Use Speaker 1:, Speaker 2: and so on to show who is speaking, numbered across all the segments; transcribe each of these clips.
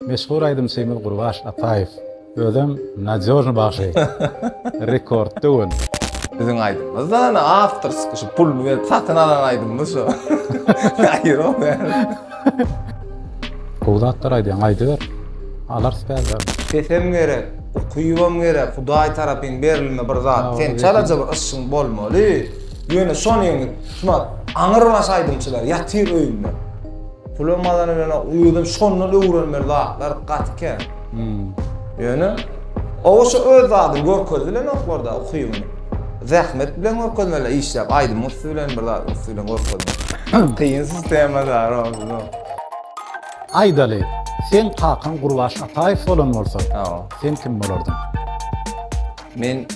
Speaker 1: Meşhur aýdymçymyz Gurbaş Ataýew özem Nadýožny bagşy. Rekord döwün. Biziň aýdymymyz
Speaker 2: da ana awtorski şu puluny berip satyn alan aýdymymyz şu. Aýyrok bäri. Gowy
Speaker 1: zatlar aýdýaň aýdyber. Alarys bäbäm. Sesem gerek,
Speaker 2: ukypam gerek, Hudaý tarapyn berilme bir zat. Sen çalaja bir yşgyň bolmaly. Ýöne şony ýeňip, şumat aňyrbaş aýdymçylar ýatyr öýünde. Pulum azany bilen özüm şondan öwrenmeli zatlar gaty kän. Ýöne oba şu öz zadyny görkezdi bilenoklarda ukybyny. Zähmet bilen görkezmeli işläp, aýdym üsti bilen bir zat üsti bilen görkezmeli. Kyn sistema zar olsun.
Speaker 1: Aýdaly, seň kakaň Gurbaş Ataýew bolan bolsa, sen kim bolardyň?
Speaker 2: Men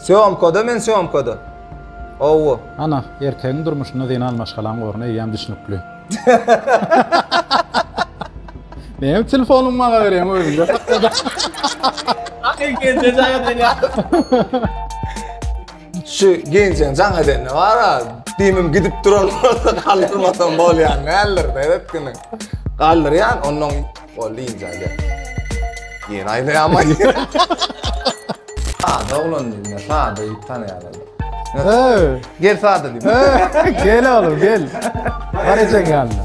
Speaker 2: Sýomkada men sýomkada. Howwa. Ana,
Speaker 1: erkegiň durmuşynda zenan maşgalaň orny eýýäm düşnükli. Näme telefonyňy maňa berýäň özüňde sakla.
Speaker 2: Şu gençen jaň edende bar ha, demim gidip duran bolsa galdyrmasam bolýan näller beret güni. Galdyrýan, ondan boldy inja gel. Ýene aýdaýamay. Sada oglan diýme, sada ýit tanaýarlar. Gel sada diýme. Gel oğlum gel.
Speaker 1: Var eken yanına.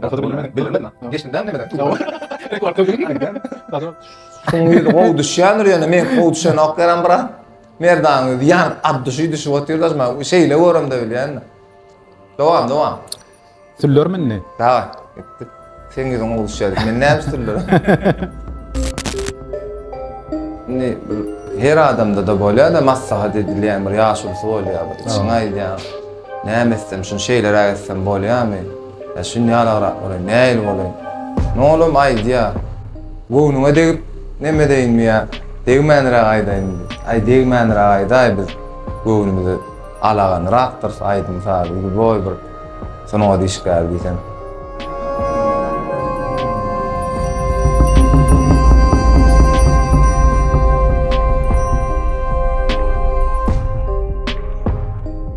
Speaker 3: Gaty bilmedim. Bilmedim. Geçdim ben demeden. Rekord bilmedim. Sen bir
Speaker 2: gol düşýändir ýöne men gol düşen ok gelen bra. Merdan özi yan at düşü düşü otyr da ben şeyle görüm de bilýän. Dowam dowam.
Speaker 1: Süller mindi. Daway. Gitdik.
Speaker 2: Sen ýüzüň gol düşýär. Men näme süller? Indi her adamda da bolýar da maslahat edilýän bir ýaşulysy bolýar. Çyňaýýar. Näme etsem, şunu şeýleräk etsem bolýarmy? Ýa şun ýalagrak bolaýyn, nähili bolaýyn? Nolam aýdýa. Göwnüňe degip, neme edeýinmi ýa degmänräk aýdaýynmy? Aý, degmänräk aýdaý, biz göwnümize alaganrakdyrys, aýdym-sazy uly boý bir sungat işgäri diýseň.